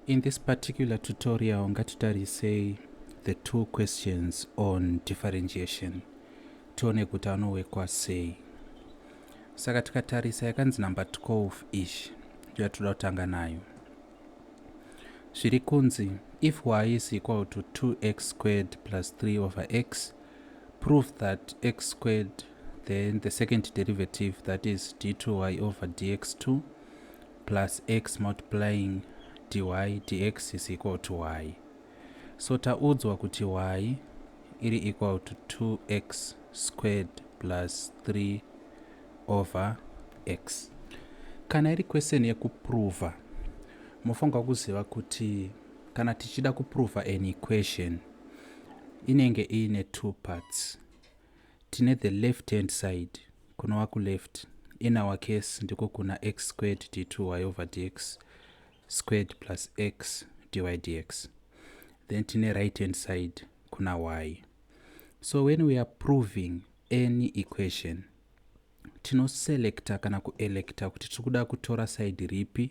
In this particular tutorial ngatitarisei the two questions on differentiation tione kuti anowekwa sei saka tikatarisa yakanzi number 12 ish yatoda kutanga nayo zviri kunzi if y is equal to 2x squared plus 3 over x prove that x squared then the second derivative that is d2y over dx2 plus x multiplying dy dx is equal to y so taudzwa kuti y iri equal to 2x squared plus 3 over x kana iri question yekuprova mofanirwa kuziva kuti kana tichida kuprova an equation inenge iine two parts Tine the left hand side kunova kuleft in our case ndiko kuna x squared d2y over dx squared plus x dy dx then tine right hand side kuna y so when we are proving any equation tinoselecta kana kuelecta kuti tiri kuda kutora side ripi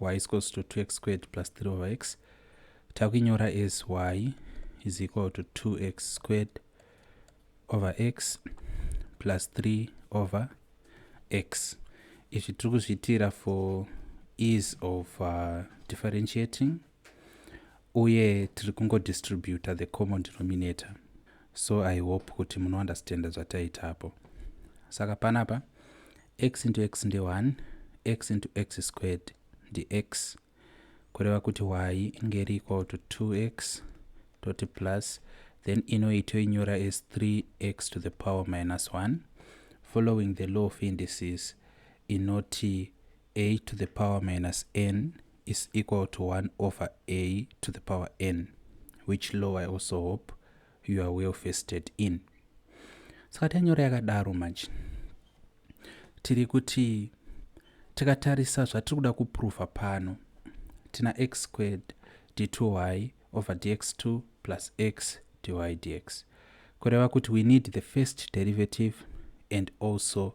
y is equals to 2x squared plus 3 over x takuinyora as y is equal to 2x squared over x plus 3 over x izvi tiri kuzviitira for ease of uh, differentiating uye tiri kungo distributa the common denominator so i hope kuti munounderstanda zvataita apo saka panapa x into x ndi 1 x into x squared ndi x kureva kuti y inge iri equal to 2x toti plus then inoi toinyora as 3x to the power minus 1 following the law of indices inoti a to the power minus n is equal to 1 over a to the power n which law i also hope you are well fested in saka tanyora yakadaro manje tiri kuti tikatarisa zvatiri kuda kuprova pano tina x squared d2y over dx2 plus x dy dx kureva kuti we need the first derivative and also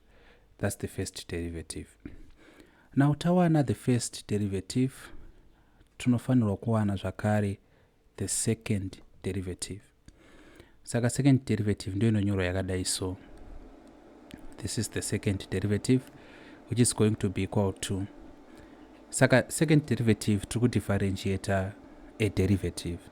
thats the first derivative now tawana the first derivative tinofanirwa kuwana zvakare the second derivative saka second derivative ndiyo inonyorwa yakadai so this is the second derivative which is going to be equal to saka second derivative tiri kudifferentiata a derivative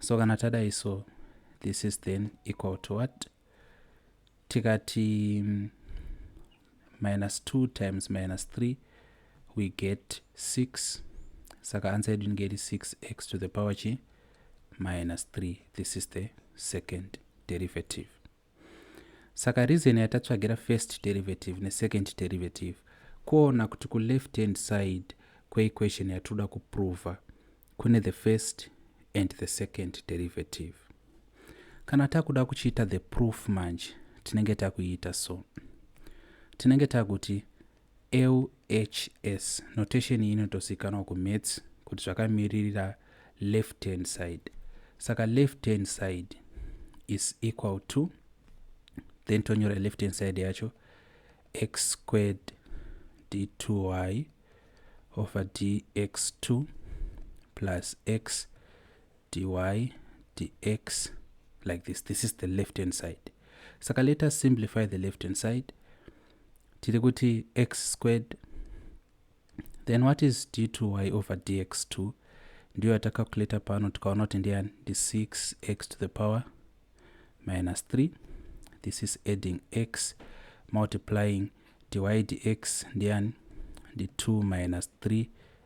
so kana tadai so this is then equal to what tikati mm, minus 2 times minus 3 we get 6 saka answer yedu inenge iri 6x to the power chi minus 3 this is the second derivative Saka reason yatatsvagira first derivative nesecond derivative kuona kuti kuleft hand side kweequation yatinoda kuprova kune the first and the second derivative. Kana takuda kuchiita the proof manje tinenge takuiita so. Tinenge takuti LHS notation iyi inotozivikanwa kumaths kuti zvakamiririra left hand side saka left hand side is equal to then tonyora left hand side yacho x squared d2y over dx2 plus x dy dx like this this is the left hand side saka let us simplify the left hand side tiri kuti x squared then what is d to y over dx2 ndiyo yatacalculator pano tikaona kuti ndiyani ndi 6x to the power minus 3 this is adding x multiplying dy dx ndiyani ndi 2 minus 3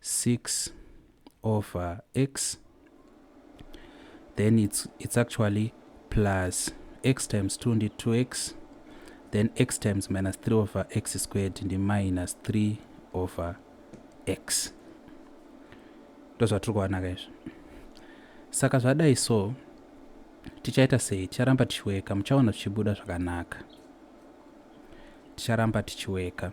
6 over x then it's, it's actually plus x times 2 ndi 2x then x times minus 3 over x squared ndi minus 3 over x ndozvatiri kuwanaka izvi saka zvadai so tichaita sei ticharamba tichiweka muchaona zvichibuda zvakanaka ticharamba tichiweka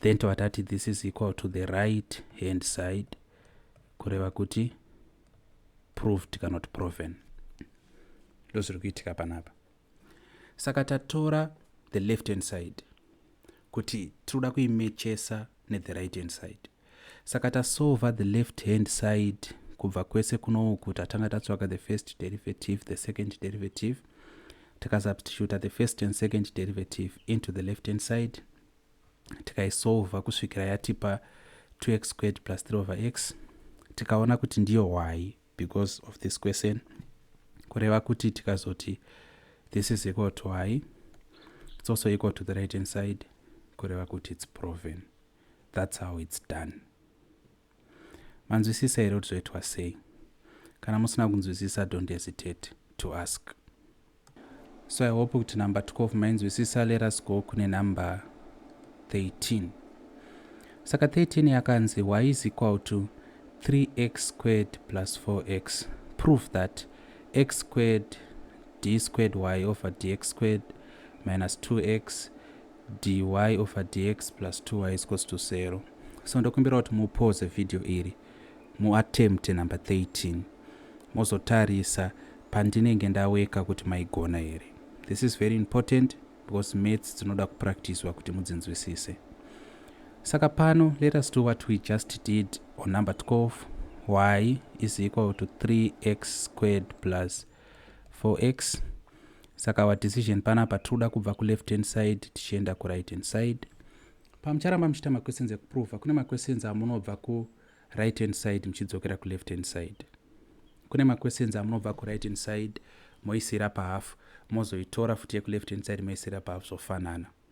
then tobva tati this is equal to the right hand side kureva kuti proved kana kuti proven ndo zviri kuitika panapa saka tatora the left hand side kuti tinoda kuimechesa nethe right hand side Saka tasolva the left hand side kubva kwese kunouku tatanga tatsvaga the first derivative, the second derivative, tikasubstituta the first and second derivative into the left hand side tikaisolva kusvikira yatipa 2x squared plus 3 over x tikaona kuti ndiyo hwai because of this question kureva kuti tikazoti this is equal to hwai it's also equal to the right hand side kureva kuti it's proven That's how it's done. Manzwisisa here kuti zvoitwa sei? Kana musina kunzwisisa, don't hesitate to ask. So I hope kuti number 12 mainzwisisa. Let us go kune number 13. Saka 13 yakanzi y is equal to 3x squared plus 4x. Prove that x squared d squared y over dx squared minus 2x dy over dx plus 2y is equals to 0 so ndokumbira kuti mupause video iri muattempt number 13 mozotarisa pandinenge ndaweka kuti maigona here this is very important because maths dzinoda kupractiswa kuti mudzinzwisise saka pano let us do what we just did on number 12 y is equal to 3x squared plus 4x saka our decision panapa tikuda kubva kuleft hand side tichienda kuright hand side pamucharamba muchiita maquestions ekuprova kune maquestions amunobva kuright hand side muchidzokera kuleft hand side kune maquestions amunobva kuright hand side moisira pahafu mozoitora futi yekuleft hand side moisira pahafu zvofanana so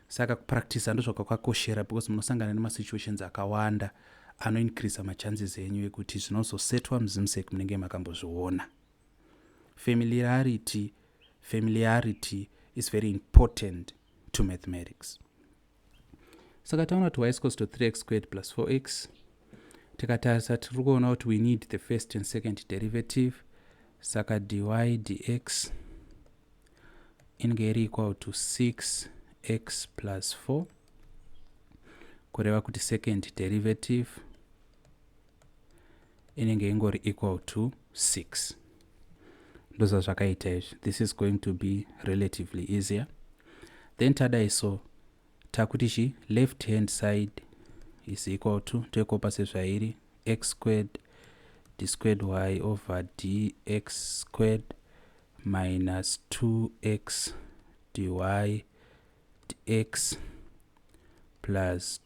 saka kupractisa ndozvakakwakoshera because munosangana nemasituations akawanda anoincreasa machances enyu ekuti zvinozosetwa muzimsek munenge makambozviona Familiarity, familiarity is very important to mathematics. Saka taona kuti y is equals to 3x squared plus 4x. Tikatarisa tiri kuona kuti we need the first and second derivative. Saka dy dx inge iri equal to 6x plus 4 kureva kuti second derivative inenge ingori equal to 6 ndoza zvakaita izvi this is going to be relatively easier then tadai so takuti chi left hand side is equal to toikopa sezvairi x squared d squared y over dx squared minus 2x dy dx plus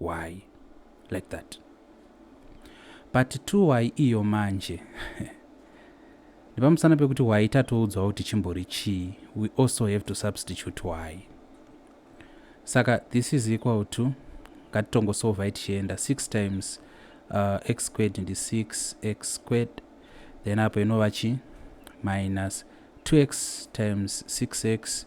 Why like that? But two why iyo manje nepamusana pekuti why tatoudzwawo kuti chimbori chii we also have to substitute why saka this is equal to ngatitongosovhai tichienda 6 times uh, x squared ndi 6 x squared then apo inova chi minus 2x times 6x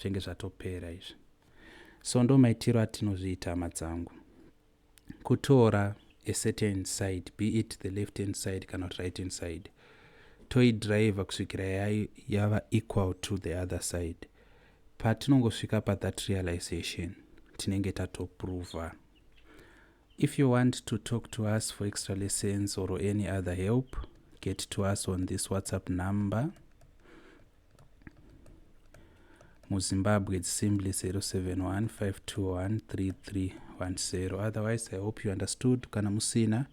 zvenge zvatopera izvi so ndo maitiro atinozviita hama dzangu kutora a certain side be it the left hand side kana kuti right hand side toidriver kusvikira yava equal to the other side patinongosvika pathat realization tinenge tatoprova if you want to talk to us for extra lessons or any other help get to us on this whatsapp number muzimbabwe it's simply 0715213310 otherwise i hope you understood kana musina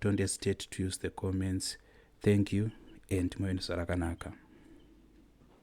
don't hesitate to use the comments thank you and muve nesarakanaka